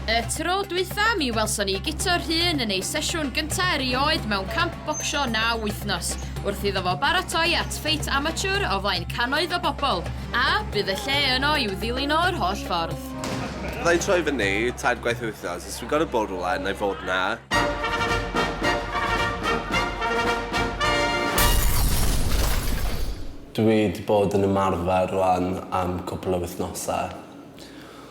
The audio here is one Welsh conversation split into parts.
Y tro dwytha, mi welson ni Guto Rhun yn ei sesiwn gyntaf erioed mewn camp bocsio na wythnos, wrth iddo fo baratoi at ffeit amateur o flaen cannoedd o bobl, a bydd y lle yno i'w ddilyn o'r holl ffordd. Fydda i'n troi fyny tair gwaith yr wythnos, os dwi'n gorfod bod rhywle, na i fod na. Dwi wedi bod yn ymarfer rwan am cwpl o wythnosau.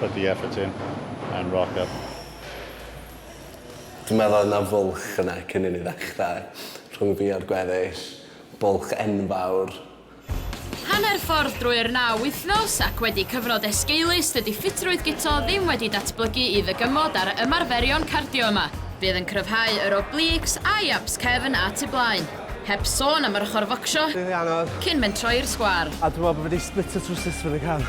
Put the effort in and rock up. Dwi'n meddwl oedd 'na fwlch yna cyn i ni ddechrau, rhwng fi a'r gweddill. Bwlch enfawr. Hanner ffordd drwy'r naw wythnos, ac wedi cyfnod esgeulus, dydy ffitrwydd Guto ddim wedi datblygu i ddygymod ar y ymarferion cardio yma. Bydd yn cryfhau yr obliques a'i abs cefn at y blaen. Heb sôn am yr ochr focsio. Bydd hi'n anodd. Cyn mentro i'r sgwâr. A dwi'n meddwl bod fi wedi splitio trowsus fyny cam.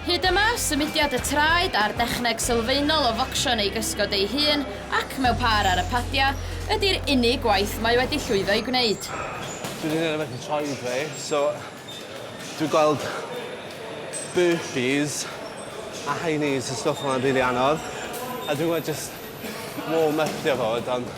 Hyd yma, symudiad y traed a'r dechneg sylfaenol o focsio neu gysgod ei hun ac mewn pâr ar y padiau ydi'r unig gwaith mae wedi llwyddo i gwneud. Dwi wedi gwneud rhywbeth i traed fi, so dwi'n gweld burpees a high knees a stwff fel 'na'n rili anodd, a dwi'n gweld jyst warm-ypio fo, ond...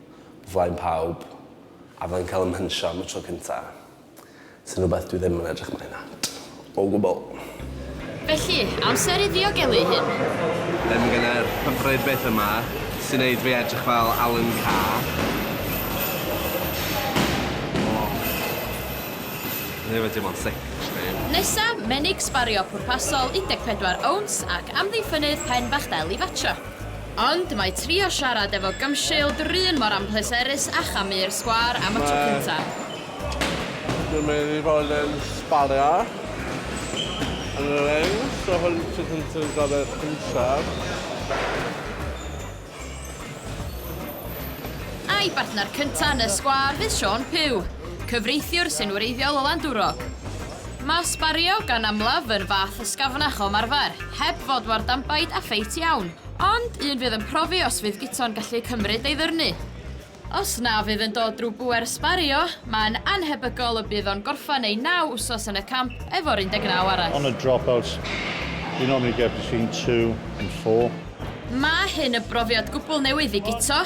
flaen pawb a fyddai'n cael 'y mhensiio am y tro cynta', sy'n rhywbeth dwi ddim yn edrych mlaen at o gwbl. Felly, amser i ddiogelu ei hun. Ddim genai'r hyfryd beth yma sy'n neud fi edrych fel Alan Carr. O. Neu yw e dim ond sic, actually. Nesa, menig sbario pwrpasol 14 owns ac amddiffynnydd pen bach del i fatio. Ond mae trio siarad efo Gumshield 'run mor anpleserus â chamu'r sgwâr am y tro cynta. Mae... dwi'n mynd i fod yn sbario yn y ring, so hwn yw'r tro cyntaf dwi'n gorfod pinsio. A'i bartner cynta' yn y sgwâr fydd Siôn Puw, cyfreithiwr sy'n wreiddiol o Landwrog. Mae sbario gan amlaf yn fath ysgafnach o ymarfer, heb fod mor danbaid a ffeit iawn, ond un fydd yn profi os fydd guto'n gallu cymryd ei ddyrnu. Os na fydd yn dod drwy bŵer sbario, mae'n annhebygol y bydd o'n gorffen ei naw wsos yn y camp efo'r 19 arall. On a drop out, you normally get between two and four. Mae hyn yn brofiad gwbl newydd i Guto.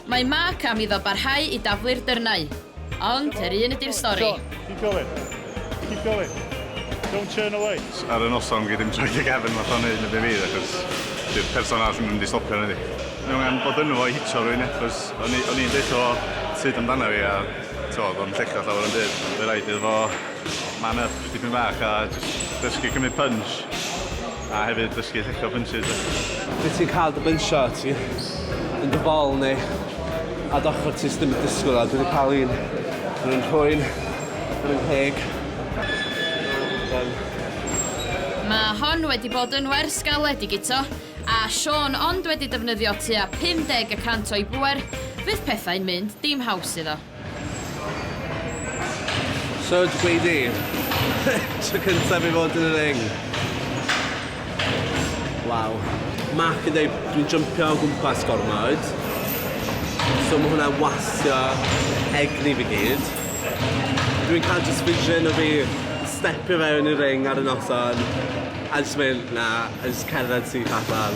Mae Mark am iddo barhau i daflu'r dyrnau, ond yr un ydy'r stori. John, keep going, keep going, don't turn away. Ar y noson gei ddim troi dy gefn fatha o'n neud yn y be fydd achos dy'r person arall ddim yn mynd i stopio na ydi? Mae angen bod ynddo fo i hitio rywun ia? Achos o'n i o'n i'n deutho fo sut amdana fi a t'mo' o'dd o'n llechach llawer o'm byd ond by' raid iddo fo man up dipyn bach a jyst dysgu cymryd punch. A hefyd dysgu llechio bunches a... Wyt ti'n cael dy bynsio, ti yn dy fol neu ar d'ochr ti sdim yn disgwyl a dwi wedi cael un yn yn rhwyn, yn yn ngheg. Mae hon wedi bod yn wers galed i Guto a Siôn ond wedi defnyddio tua 50 y cant o'i bŵer, bydd pethau'n mynd dim haws iddo. So, dw i di. Tro cyntaf i fod yn y ring. Waw. Mark yn dweud, dwi'n jympio o gwmpas gormod. So mae hwnna'n wasio egni fi gyd. Dwi'n cael just vision o fi stepio fewn i'r ring ar y noson a just mynd, na, a just cerdded syth allan.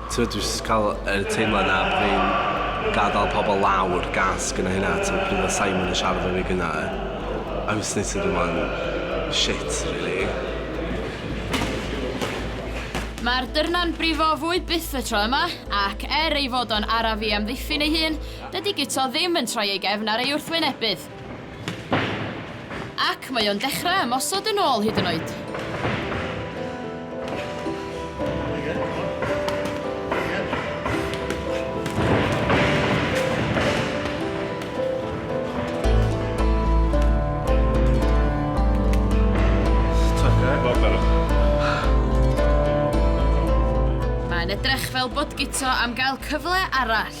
T'mod dwi jyst ca'l yr teimlad 'na bo' fi'n gadal pobol lawr gas gynna' hynna t'mod pryd odd Simon yn siarad 'fo fi gynna' I was neud to the man shit rili. Mae'r dyrna'n brifo fwy byth y tro yma, ac er ei fod o'n araf i amddiffyn ei hun, dydi Guto ddim yn troi ei gefn ar ei wrthwynebydd. Ac mae o'n dechrau ymosod yn ôl hyd yn oed. Mae'n edrych fel bod Guto am gael cyfle arall.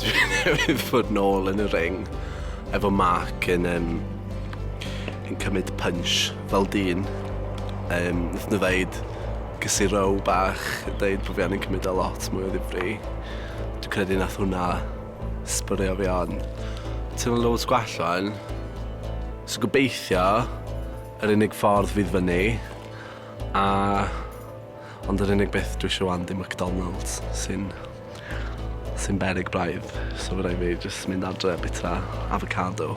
Dwi newydd fod nôl yn y ring efo Mark yn yym yn cymryd punch fel dyn yym nath nw ddeud cysur row bach deud bo' fi angen cymryd e lot mwy o ddifri dwi credu nath hwnna sbwriel fi on. Teimlo loads gwell ŵan so gobeithio yr unig ffordd fydd fyny a Ond yr unig beth dwi isio wan di McDonalds sy'n sy'n beryg braidd. So fydda i fi jyst mynd adre bita avocado.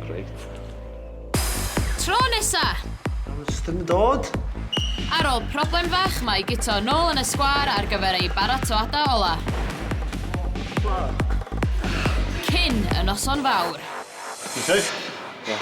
Great. Tro nesa! Jyst yn dod. Ar ôl problem fach mae Guto nôl yn y sgwâr ar gyfer ei baratoada ola. Cyn y noson fawr. Ti'n safe? Ie.